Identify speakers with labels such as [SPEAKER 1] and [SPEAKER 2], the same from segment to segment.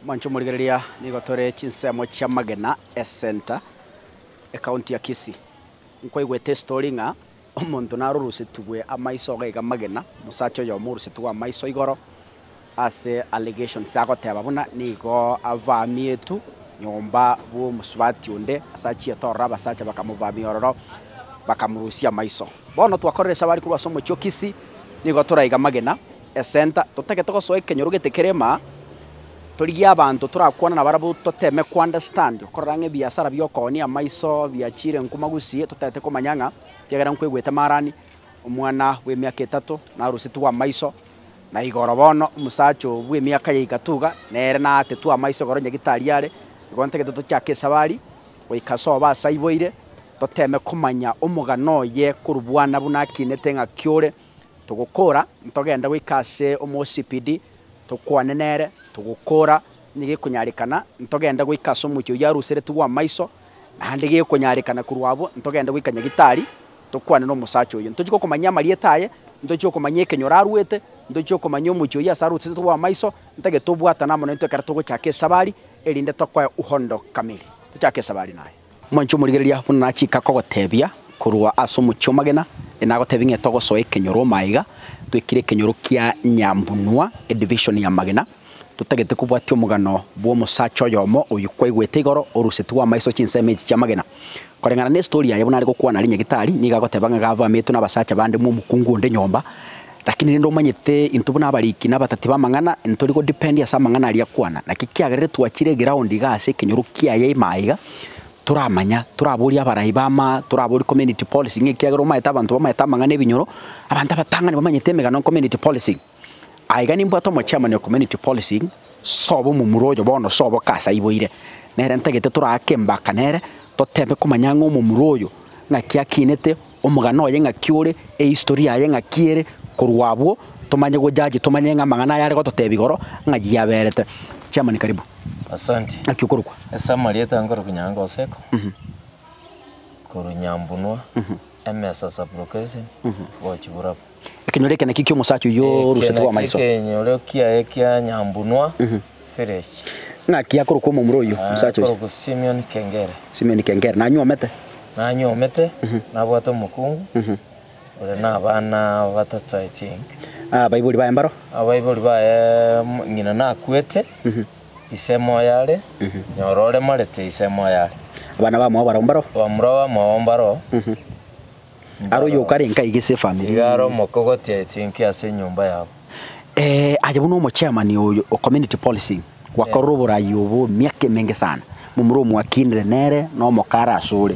[SPEAKER 1] Mwanche omorigereria, nigo tore chinsemo chi'amagena esenta ecounty ya Kisii. Nkwaigwete estory ng'a omonto narorusetigwe amaiso iga iga magena, omosacha oyomo orusetigwe amaiso igoro ase allegations agoteba buna nigo avamietu nyomba bw'omosubati onde ase achiete ororo abasacha bakamuvamia ororo bakamorusia amaiso. Bono twakorire esabari korwa ase omochie o Kisii nigo toraiga amagena. Esenta, totagete gosoa ekenyoro gete kerema, torigie abanto torakwane nabarabwo toteme kounderstand okorora ng'a ebiasara bi'okooni amaiso biachiire nko magusii totagete komanya ng'a ekiagera nkwegwete maarani omwana bw'emiaka etato narusetigwe amaiso na igoro bono omosacha oo bw'emiaka ya igato iga nere naatetwe amaiso igoro nyagitari are igo ntagete tochake esabari goika ase obo ase aiboire toteme komanya omogano oye korwa bwana buna akinete ng'aki ore Togokora, ntogende goika ase omosibidi, tokwane nere. Togokora, onye gekonyarekana, ntogende goika ase omochie oyio aruseretigwe bw'amaiso, naende gekonyarekana korwa abwo, ntogende goika nyagitari, tokwane n'omosacha oyio. Ntochie gokomanyia amarieta aye, ntochie gokomanyia ekenyoro arwete, ntochie gokomanyia omochie oyio ase aruseretwe bw'amaiso, ntagete obwatana amo naintwe ekero togochaka esabari, erinde tokoe uhondo kamili. Tochake esabari naye. Omonto omorigereria buna nachika kogotebia korwa ase omochie omagena, enagotebia ng'a togosoa ekenyoro omaiga, twekire ekenyoro kia nyambunua, edivision ya magena, totagete kobwatia omogano bw'omosacha oyomo oyio kwaigwete igoro orusetigwe amaiso chinsemo echi chi'amagena. Koreng'ana n'estori yaye buna are gokwana aria nyagetari, nigo agoteba ng'a gabwametwe nabasacha bande bw'omokungu onde nyomba, Lakini rende omanyete intwe buna abariki na abatati b'amang'ana ntori godipendi ase amang'ana aria akwana, naki ekiagerire twachire eground iga ase ekenyoro kiaye ime aiga, toramanya, toraborie abarai bama, toraborie community policy ng'a ekiagera omanyete abanto bamanyete amang'ana ebinyoro, abanto abatang'ani bamanyete emegano community policy. Aiga nimbwate omochairman o community policy, sobo omomura oyo bono sobo kasa aiboire, nere ntagete toraake embaka nere, totebe komanya ng'a omomura oyo ng'aki akinete, Omogano oye ng'aki ore, ehistory yaye ng'aki ere, korwa abwo tomanye go judge tomanye ng'a amang'ana aya are gototebia igoro ng'a ayio yaberete. Chairman karibu. Asante. Naki
[SPEAKER 2] okorokwa? Ase
[SPEAKER 1] amarieta
[SPEAKER 2] nkorokwa Nyangoseko, korwa Nyambunua, Emesa sub-location, gochia Burabwo. Ekenyoro eke
[SPEAKER 1] nakio ki'omosacha oyio Eke orusetwe nakio amaiso. ekenyoro kiaye
[SPEAKER 2] kia nyambunwa, Fereshi. Naki akorokwa
[SPEAKER 1] omomura oyio, Ah, omosacha oyio, akorokwa Simioni
[SPEAKER 2] Kengere. Simioni Kengere,
[SPEAKER 1] nanyuomete. Nanyuomete,
[SPEAKER 2] nabwate omokungu, ore na abana batato, I think. Ah, abaibori baye
[SPEAKER 1] mbaro. Abaibori baye,
[SPEAKER 2] mm, ng'ina nakwete, ise moyo are, nyora oremarete, ise moyo are. Abana bamwao barao
[SPEAKER 1] mbaro. Bamura bamwao mbaro. Aro oyo okarenka iga ase efamiri. Iga aro omoke ogotia
[SPEAKER 2] etinki ase enyomba yabo. Eh, aye
[SPEAKER 1] buna omochairman oyo o community policing gwakorire eh. oborai obo emiaka emenge sana momura omwakinire nere na omokara asore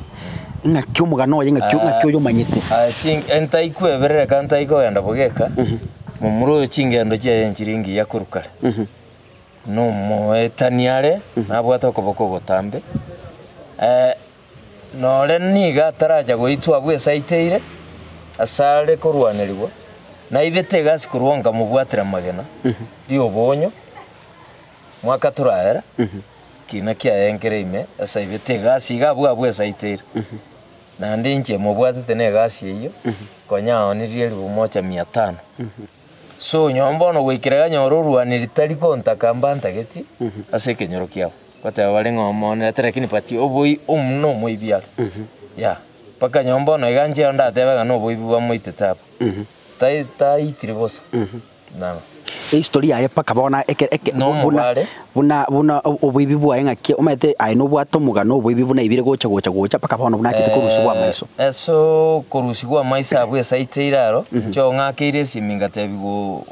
[SPEAKER 1] ng'aki omogana oye ng'aki ah, ng'aki oyo omanyete i think entaikwa
[SPEAKER 2] eberere ka ntaiko ogenda bogeka mhm. momura oyo chingendo chiaye enchiri engiya korukare mhm. nomoetani are mhm. nabwate okoboko ogotambe eh, nore nigo ataracha goitwa abwo esaa eteire asare korwanerigwa, naibete egasi korwa nkamobwatera amagena ri'oboonyo mwaka torarera, kiina kiaye nkere ime ase aibete egasi iga abwo abwo esaa eteire. Naende inche mobwatete na egasi eyio, konya aonirie ribu mocha mia tano. Sonyomba bono goikera ganyore orwaneri tari kontaka mbantageti ase ekenyoro kiabo. Goteba bare ng'a omonerete lakini but oboi omu na omoibi are. Yea, mpaka nyomba bono iga nchire ndatebe ng'a noboibi bwamoitete abwo. Tai taitire bosa. Nabo. Ehistory yaye
[SPEAKER 1] mpaka bono eke eke buna. Nomobare. buna buna oboibi bwaye ng'aki omanyete aye nobwate omogano oboibi buna aibire gocha gocha gocha mpaka bono buna achete korusia bwa maiso. Eh, ase okorusia
[SPEAKER 2] gw'amaiso abwo esaiti eira aro, inche oo ng'akeire esimi ngatebiwa o-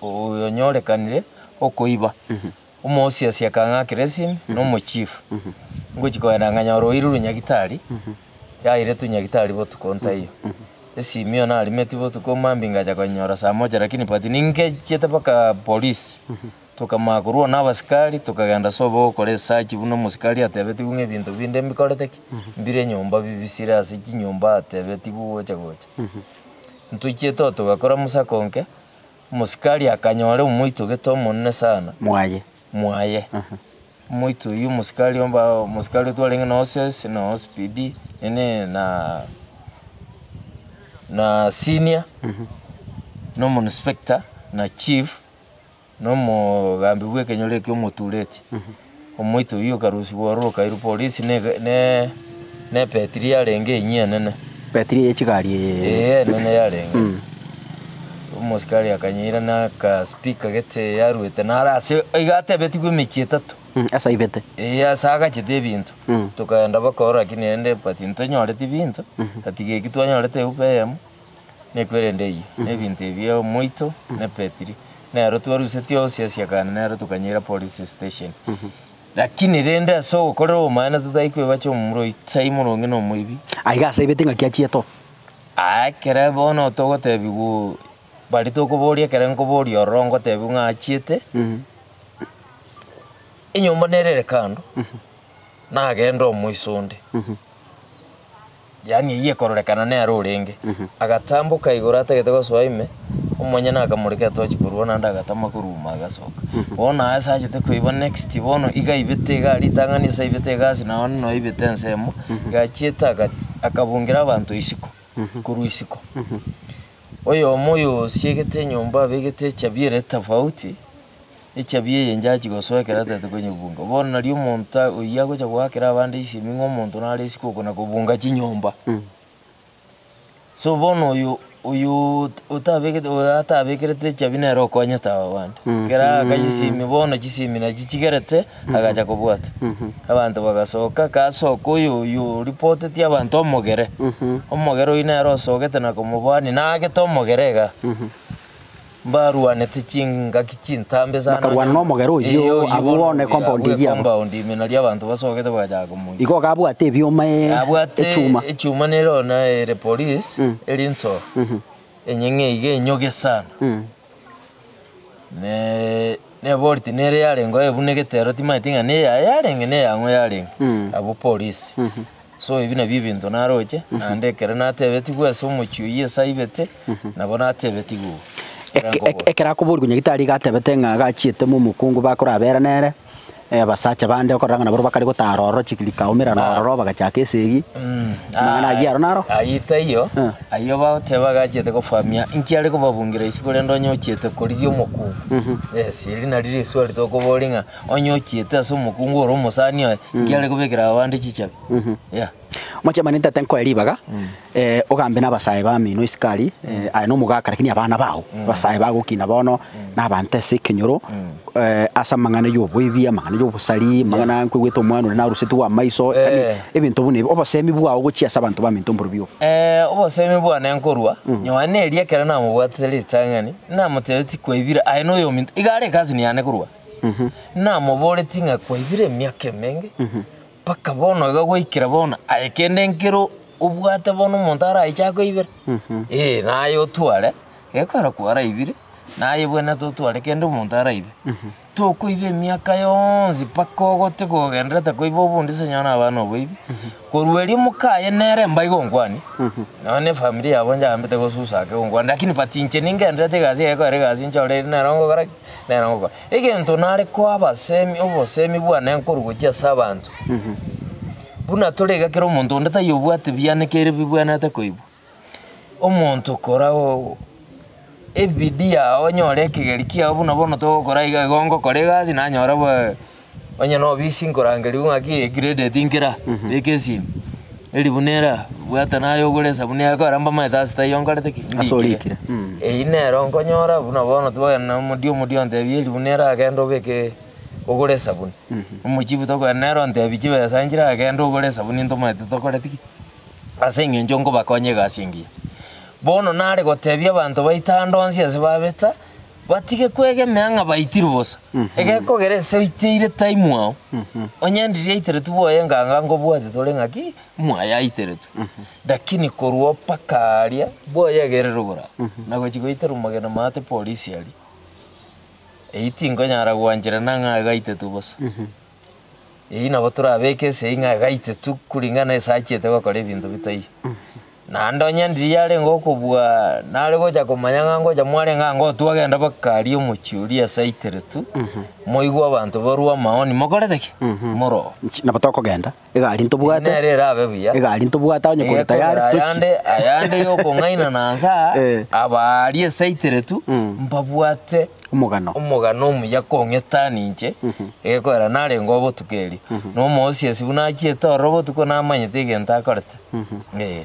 [SPEAKER 2] oyonyorekanire okoiba. Omosiasi akang'akera esimi na omochifu. Ngochia kogenda nganyora oirwe nyagitari, yairetwe nyagitari botuko ntaiyo. Esimi eyo narimetie botuko mambia ngacha konyora saa moja lakini but ningechiete mpaka polisi, Tokamanya korwa nabasikari, tokagenda ase obogokora esachi buna omosikari atebetigwe ng'a ebinto binde mbikorete ki? mbire nyomba bibisire ase chinyomba atebetigwe gocha gocha. Ntochiete oo togakora mosako onke, omosikari akanyora omoito gete omonene sana. Mwaye. Mwaye. Omoito oyio omosikari omba omosikari otwarenge na OCS na OCPD nini na na senior, na omoinspector na chief. nomogambi bw'ekenyoro ekio omotureti, omoito oyio okarusigwa ororo okairwa polisi ne ne nepetiri yarenge enyia enene. Betiri eye chigari
[SPEAKER 1] eye. Ee enene
[SPEAKER 2] yarenge. Mm. Omosikari akanyeira nakaspika gete yaruete naro ase iga atebetigwe emechie etato. Mm, ase aibete.
[SPEAKER 1] Ee ase agachete
[SPEAKER 2] ebinto. Mm. Tokaenda baka ororo lakini rende but ntonyoreti binto. Atiga eki twanyorete eupa eyemo. Nekwerende eyio nebinto ebio omoito ne petiri nero twaruseti onsi asiakane nero tokanyeira police station lakini rende ase ogokorera obomana totari kwebacha omomura oyi sai moronge na omoibi Aiga ase aibete ingaki
[SPEAKER 1] achie to. Aa ekere
[SPEAKER 2] bono togotebigwa bari tokoboria ekere nkoboria ororo ngotebiwa ng'a achiete enyomba nere ere kando nagende omoiso onde. Yaani eyio ekororekana nere orenge. Agatamboka igoro atagete gosoa ime, omonyene akamoreka etochi korwa onande agatama koruuma agasoka. Bono aye asachete koiba next bono iga aibete igaa ritang'ani ase aibete egasi nao onde noibete ensemo, iga achiete aga akabungira abanto isiko korwa isiko. Oyomo oyo osiegete enyomba abegete echabi ere tofauti, echiabi eye njachi gosoa ekero ataete konyebunga. Bono nari omonto ta oyio agocha goakera abande ensemi ng'a omonto nare isiko oko na kobunga chinyomba. So bono oyo oyoo ot- otabegete oyo atabekerete echiabi nere okonyete aba bande, ekero aaka chisemi bono chisemi nachichigerete agacha kobwata. Abanto bagasoka kasoka oyo oyo oripotetie abanto omogere, omogere oyio nere osogete na komobani nagete omogere igaa. Mbarwanete chingaki chintambe sana. Bakarwana nomogera oyio,
[SPEAKER 1] abwo bono ne compound eyio abwo. Compound ime nario abanto
[SPEAKER 2] basogete bagachaka komoiya. Igo iga abwate ebioma
[SPEAKER 1] e Abwate echuma.
[SPEAKER 2] echuma nero na ere police eri nso enyeng'e iga enyoge sana. Ne nebori tinere yarenge oye buna egetero timanyeti ng'a neyaye yarenge neyang'o yarenge abwo police. So ebi nabio ebinto naroche, naende ekero natebetigwe ase omochie oyio ase aibete, nabo natebetigwe oo. Eke- Ekerango eke- bo. Ekero
[SPEAKER 1] akoboorigwa nyagitari iga atebete ng'a gachiete mo omokungu bakorabera nere, eh, abasacha bande okorora ng'a nabarobwo bakare gotara ororo chik- rikaomerana Ah. ororo bagachaka esegi. Mm, Amang'ana ayio aro naro? Ayio taiyo,
[SPEAKER 2] Ah. ayio bagoteba gachiete gofahamia inki are kobabungira isiko rende onye ochiete korigia omokungu. Yes, eri nari risuari tokoboria ng'a. Onye ochiete ase omokungu ore omosani oye, inki are kobekera abande chichabi? Yea.
[SPEAKER 1] Omochamani ntete nkoe ribaga, eh, ogambe nabasae bamino isiko aria, eh, aye nomogaka lakini abana bao, abasae bagokina bono, nabaanta ase ekenyoro, eh, ase amang'ana y'oboibi, amang'ana y'obosari, amang'ana nkoigwete omwana oria narusetigwe amaiso, yaani Eh. ebinto buna ebi, obosemi bwao gochia ase abanto baminto mborobia obo. Eh, obosemi
[SPEAKER 2] bwane nkorwa, nyowe neeri ekero namobwatete ritang'ani, namotebirie tikoibire, aye noyominto, iga are ekasini yane korwa Namoboretie ng'a kwaibire emiaka emenge, mpaka bono iga goikera bono, aye kende nkere obwate bono omonto araiche akoibera, eh naye otware, ekero kwaraibire, naye bwenete otware kende omonto araibe. Tokoiba emiaka yonsi mpaka ogote kogendererete koiba obondi ase onye naba noboibi, korwa erio moka aye nere mba igo nkwanie, nonya ne efamiri yabo nchayambete gosusa ake gonkwana, lakini but inche ningendererete egasi yaye ekero ere egasi nchore eri nere ogokora ki? Nere agokora egento nare koa abasemi obosemi bwane nkoru gochia ase abanto. Buna tore iga kera omonto onde taiyo obwate bianekeire bibwenerete koigwa. Omonto kora oo ebidii yao onyore ekegeri kiao buna bono togokora iga igo ngokora egasi nanyora bwa. Onye nobisi nkorangerigwe ng'aki eye graded nkera, beka esimi, eri buna ere aa, bwata naye ogore esabuni yaye kore mbamaete ase taiyo nkorete ki? Ase orikire.
[SPEAKER 1] Ndiikire. Eyio nero
[SPEAKER 2] nkonyora buna bono twogenda na omodio omodio ontebia eri buna ere agenda obeke ogore esabuni. Omochifu tokogenda nere ontebia chibesa nchire agenda ogore esabuni ntomaete tokoreti ki? Ase eng'encho nkobakonya egasi engiya. Bono nare gotebia abanto baito ande onsi ase babeta, Batige kwegemea ng'a baitirwe bosa. Egekogera ese oiteire time ao, onye ndiri yaiteretwe bwoye nganga nkobwate tore ng'a ki, mwaye aiteretwe. Lakini korwa mpaka aria, bwoye egererwe boraro, na gochi goitera omogeni omate polisi aria, eyio tinkonyara gwancherana ng'a aiga aitetwe bosa. Eyio nabo torabeke esegi ng'a gaitetu kuringana nese achiete gokora ebinto bitaiyo. Naende onye Andiri yarenge okobua nare gocha komanya ng'a ngocha mwarenge ango twagenda baka aria omochie oria ase aiteretu moigwe abanto barue amaoni mokorete ki? Moroo. Nabo tokogenda.
[SPEAKER 1] Egari ntobwate. Nere erabe buya.
[SPEAKER 2] Egari ntobwate onye kore
[SPEAKER 1] tayari tochie. Ayande ayande
[SPEAKER 2] yokong'aina na nsaa. Eh. Abaari esaitiretu mm. mbabwate omogano omogano omuya kong'eta ninche mhm. egekorera narenge obotuko erio mhm. na omoosi ase buna achiete ororo botuko namanyete egento akorete mhm. eh.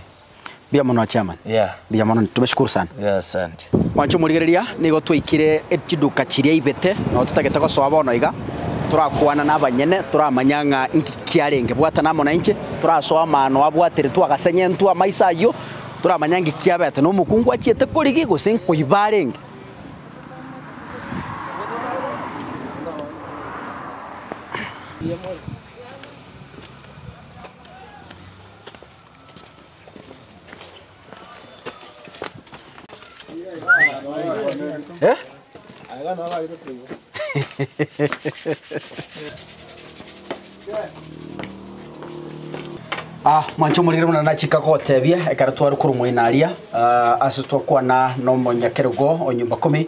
[SPEAKER 1] Mbuya mono chairman. Yeah. Mbuya mono tubashukuru sana. Yeah, asante. Mwancho
[SPEAKER 2] morigereria
[SPEAKER 1] nigo twaikire chiduka chiria ibete no totagete gosoa bono iga torakwana na abanyene toramanya ng'a inki kiarenge bwatana amo nainche torasoa amano abwateretwe agasenyentwe amaiso ayio toramanya inki kiabete na omokungu achiete korigia gose nkoiba arenge. Ah, mwancho omorire buna nachika gotebia ekero tware korwa omoino aria ah, ase twakwana nomonyakerogo o nyomba kumi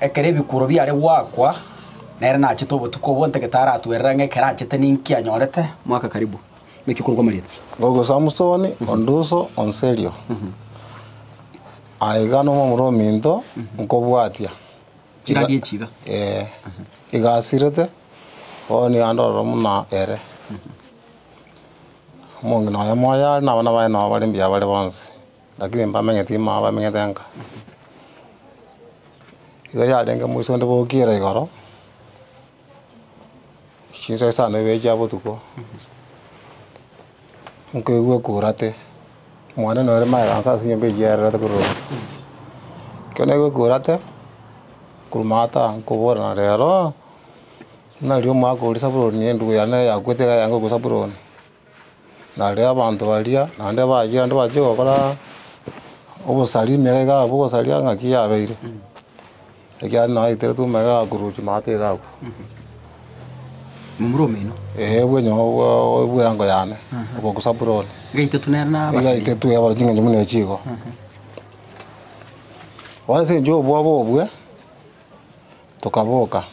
[SPEAKER 1] Ekero ebikuuro biare goakwa, nere nachete obotuko obwo onte getaratwerera ng'a ekero achete ninki anyorete, mwaka karibu. Naki okorokwa Marieta. Goku Samusoni
[SPEAKER 3] onde uso o Nserio aiga nomomura ominto nkobwatia Chiragi
[SPEAKER 1] echi iga. Ee, iga
[SPEAKER 3] asirete, bono nigo andororo buna ere. Omong'ina oye moyo are na abana baye nao bare mbuya bare bonsi. Lakini mbamenyeti ime aba bamenyete nka. Igo yarenge moiso onde bokire igoro, chinsa isano ibere chia botuko, nkoigwa ekurate, mwane nore maganso ase enyomba eywo yarerete korwa ime. Ekero naigwa ekurate, korwa ime ata nkoborana rero, nari omwaka oria saburoni endugu yane yakwete iga yange okosaburoni. Nario abanto baria naende bachire naende bachie gokora obosaria emegaka yabo bogosaria ng'aki yabeire, ekiagera nao eteretwe omegaka gakurusia naye tigakwa.
[SPEAKER 1] Momura omino. Ee bwenyo bwa-
[SPEAKER 3] bw'eango yane oko Zabuloni. Gaitetwe
[SPEAKER 1] nere na Nigo abasibire. aitetwe abare ching'encho buna
[SPEAKER 3] echi igo. Bono ase eng'encho y'obwoba obwe, tokaboka,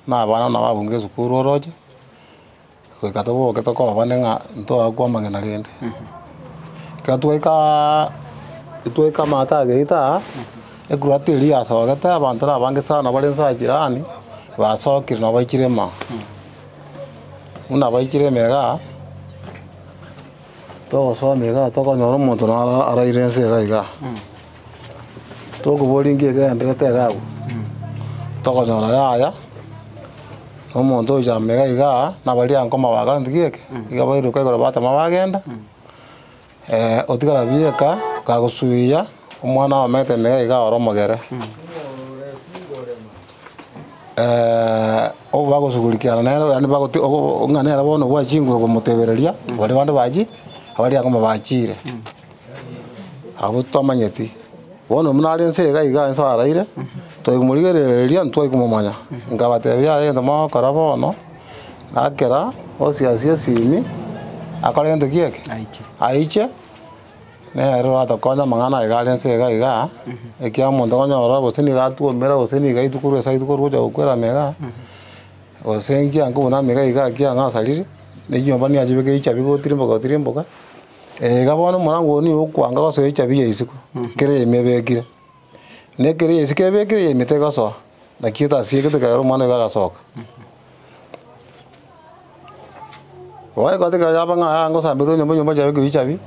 [SPEAKER 3] na abana nabo abunga esukuru oroche. goika toboke tokobane ng'a ntoakwa amagena rende. Ekero twaikaa twaika amato ageita aa, ekurati eria yasogete abanto na abange sana bare nsa jirani, basokire na baichire ime aa. Buna baichire ime igaa, togosoma igaa tokonyora omonto naro araire nse igaa igaa. Tokoboria inki ekegendererete iga agwo. Tokonyora yaya, na omonto oyochia ime iga iga aa, na baria anko bakareti geke, iga bairoka igoro batama bagenda, otigara bieka, kagosuia, omwana abamete ime iga iga ore omogere. obo bagosugurikiana nere yaani bagoti- o- o- ng'a nere bono obwate chinguru okomotebereria, baria bande bachie, abaria ango bachiire. Abwo twamanyeti, bono buna are inse iga iga inse araire, twai komorigerereria ntitwai komomanya. Nkabatebia, Aye egento mogokora bono, na kera osiasie esimi, akore gento ki eke? Aiche, nere oratokonye amang'ana aye iga are inse iga iga, ekiagera omonto nonyorora gose nigo atwomera gose nigo aitwe korwa esaa aitwe korwa gocha gokwera ime igaa, gose nkiya nkobuna ime iga iga ekiagera nasariri, ne chinyomba niachibekeire chiabigotirimboka gotirimboka. Iga bono omorango oo nigo okwanga gosoa echabi ya isiko, ekero eime ebekire, na ekero ya isiko ebekire yaime tegosoa, naki etasiegete ekero omwana oiga agasoka. Bono egati ekero yaba ng'a aa ngosambete nyomba nyomba nchabe koiyia echabi,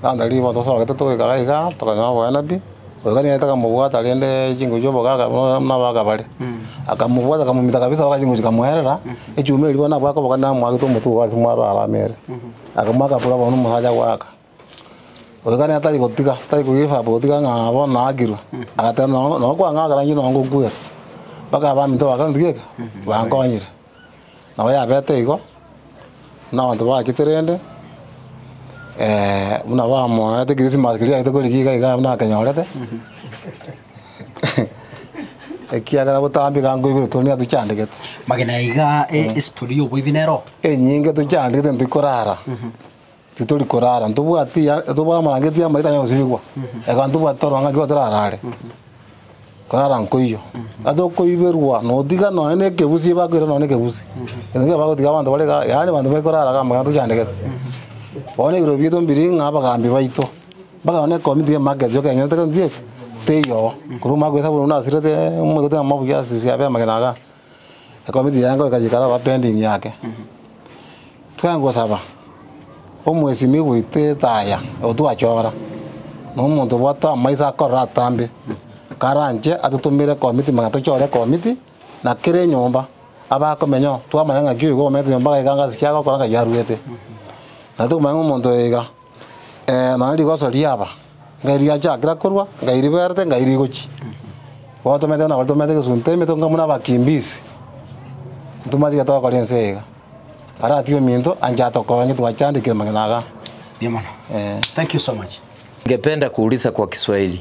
[SPEAKER 3] lanta riria bono togosabote togoikara iga tokonyora oboene pi, oiga nigo aete akamobwata rende chingochi chiabo iga akaba nabo akabare, akamobwata akamomita kabisa mpaka chingochi chikamoerera, echuma eria bono nabo akoboka nere amwagete omotwe iga ase mwaro arame ere. Akamwa akabora bono omosacha gwaka, oikanete tari gotiga, tari kogifa gotiga ng'a bono naakirwe, agateba nonya nonya kwang'a ekero inche nonya ngokwera, mpaka abaminto ba Korintho geke bankonyire. Nabo yabete igo, buna abanto bachete rende, buna bamoete Christmas keria riagete korenge iga iga nabo nakenyorete. Ekiagera botambe iga nkoigwere story niga tochandegete. Magena iga
[SPEAKER 1] estory y'oboibi nero. Enyinge tochandegete
[SPEAKER 3] ntoikorara. Titori korara ntobwati ya tobwate amabangeti amaya tanya gosibigwa. Ekero ntobwati toro ng'a nkinya torarare. Korara nkoiyo. Ata okoiberwa notiga nonya na ekegusi ebakoirera nonya na ekegusi. Ere nigo bagotiga abanto bare iga yaani abanto baikorara iga amang'ana tochandegete. Bono ebiro biaito mbiring'a abagambi baito. Bakarora ng'a nekomi tiga emage echio kenyorete kare nchieke, teiyo. Korwa omwaka bw'esabato naende nasirete omoigote na mobuya ase chisemi chiabo amagena aya, ekomi tiga yaye ngoika chiikare aba pending yake. Twaye gosaba, omwesimi goita etaya oyo twachora, na omonto obwate amaiso akorora atambe, karanche atotomere ekomi tiga manya tochore ekomi ti, na kera enyomba abakomenyao twamanya ng'aki oyo iga omenyete nyomba iga iga ng'aki agokora ng'ai aruete. Naende tokomanya ng'a omonto oyo iga. Nonya rigoso riaba, ngai riachakire korwa, ngai riberete, ngai rigochia. Gotomete buna baritomerete egesunte emetwe nka buna abakimbizi, ntomasi gete gokora ense eye iga. Aratiga ominto anche atokonye twachandekire amang'ana aga.
[SPEAKER 1] Thank you so much. Ningependa kuuliza
[SPEAKER 2] kwa kiswahili.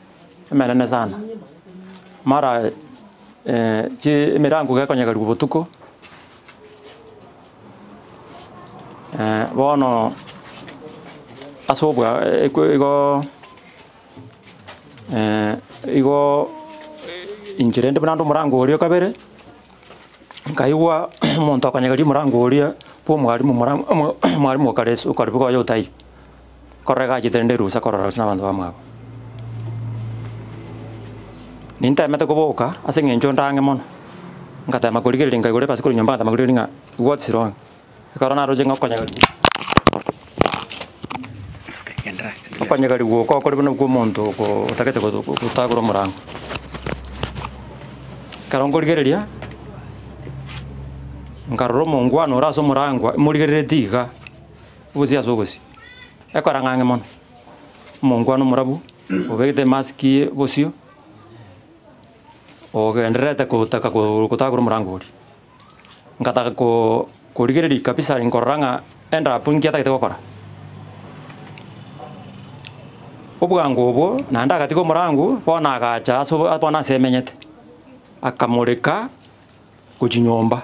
[SPEAKER 4] Emenene sana, mara chi emerango gekonyegarigwa botuko, bono ase obwa ekwe igo igo inche rende buna ande omorango oria o kabere, nkaigwa omonto akonyegaria omorango oria bwa omwarimu mora omo omwarimu o kare ase okare bogoya otaiyo. Kororega achiete rende rusa korora ase nabanto bamwabo. Nintaemete koboka ase eng'encho ndang'e mono, ngatema korigereria nkaigora ebasi korwa nyomba ngatema korigereria ng'a what is wrong? Ekero naroche ng'a okonyega riko It's okay,
[SPEAKER 1] endelea, endelea. okonyega riguoka okore
[SPEAKER 4] buna okwo omonto oko otagete goto gotagora omorango. Ekero nkorigereria, nkarora omongwana ore ase omorangwa morigereretie iga. Obosio ase obosio. Ekora ng'ang'e mono. Omonto kwane omorabu, obegete emasiki y'obosio, ogendererete kotaka ko- kotagora omorango oria. Ngataka ko- korigereria kabisa nkorora ng'a endabu nki atagete gokora. Obwango obwo, naende agatiga omorango, bono agacha ase obo bono ase emenyete, akamoreka gochia nyomba.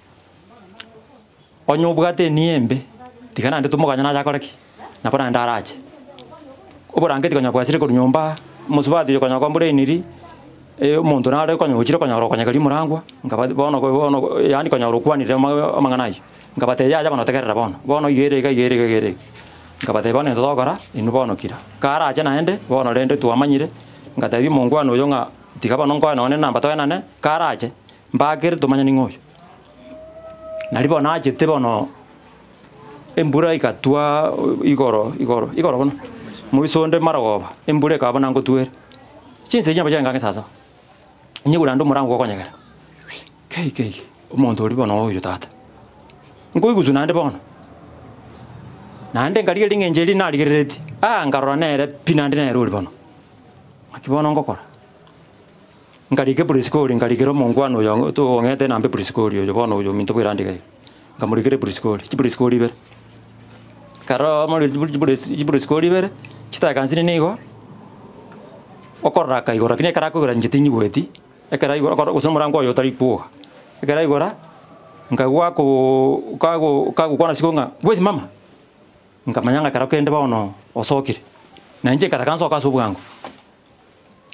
[SPEAKER 4] Onye obwate enia embe, tiga naende tomokanye nache akore ki? Nabo naende arache. Oborangeti konya bwachire korwa nyomba, omosubati oyo konya kombrainiri, omonto nare konya ochire konya orokonyeka rimorangwa, inga ba bono ko bono ko yaani konya orokwanire ama amang'ana aywo, inga bateba yaya bono tegerera bono, bono iga ere iga iga ere iga iga ere iga. Inga bateba bono nento togokora, inwe bono kira. Karache naende, bono rende twamanyire, ngatebi omongwana oyo ng'a tiga bono nkoe nonye nenamba toenane, karache, Mbakere tomanya ning'o oyo. Nari bono nachete bono embura egatwa igoro igoro igoro buna moiso onde marogoba embura ekaba buna ngotwere. Chinsa echi nabo chiaye ng'ake sasaba, nyegure naende omorango gokonyegera kei kei omonto oria bono oyo tata. Nkoiguswa naende bono, naende nkarigia ring'enche erio narigereretie, aa nkarora nere pi naende nere oria bono. Naki bono ngokora. Nkarike Priskori, nkarikera omongwana oyo togong'eterete nambe Priskori, oyo bono oyo ominto bw'erandi iga iga. Nkamorikera Priskori, chiPriskori ibere. Ekero amorigetie chipri- chipris- chiPriskori ibere, chitakansini nigo okoraka igoro, lakini ekero akoigora inche tinyigweti, ekero aigoro okoro gose omorango oye otari kwoga. Ekero aigora, nkagwa ako kago kagokwana ase igoro ng'a bwezi mama! Nkamanya ng'a ekero kende bono osokire. Na inche nkataka nsoke ase obwango.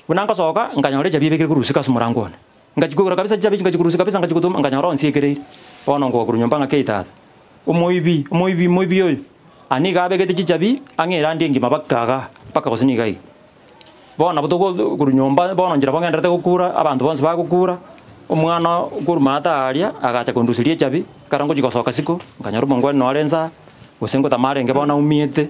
[SPEAKER 4] Buna ngosoka, nkanyora echiabi ebekire korwa usiku ase omorango one. Ngachikwegora kabisa chichabi echio, ngachikora usiku kabisa, ngachigutuma, nkanyora onsi ekereiri. Bono ngoa korwa nyomba ng'ake Tata, omoibi, omoibi, omoibi oyo! Aa nigo abegete chichabi ang'e erandi engima mpaka iga, mpaka gose nigo iga. Bono nabo togo korwa nyomba, bono nchera bogendererete gokura, abanto bonsi bagokura, omwana korwa maata aaria agacha konduseria echiabi, ekero ngochia gosoka isiko, nkanyora omongwani noo are inse aa, gose ngotama arenge bono aumiete.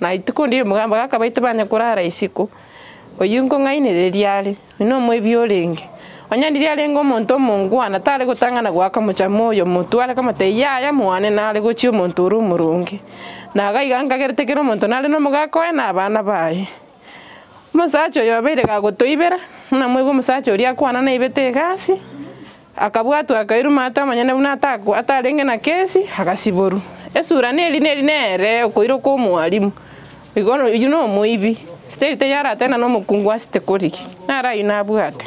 [SPEAKER 5] Na rituko riria omogambi oye akabaita banye korara isiko, oyio nkong'ainereria are, oyio nomoibi orenge. Onye riria arenge omonto omongwana, tare gotang'ana goaka omochamo oyo omotware, akamoteebia, Yaya, moane nare gochia omonto ore omoronge. Na iga iga nkagerete kera omonto nare nomogaka oye na abana baye. Omosacha oyo obeire gagotoibera, buna moigwe omosacha oria akwana naibete egasi. Akabwatwa akairuma ata amanyene buna atakwa atarenge na kesi, agasiborwa. Esura neri neri nere okoira okwa omwarimu. Igo oyio nomoibi. Steri teyarate na nomokungu ase tekori ki. Nare ayio nabwate.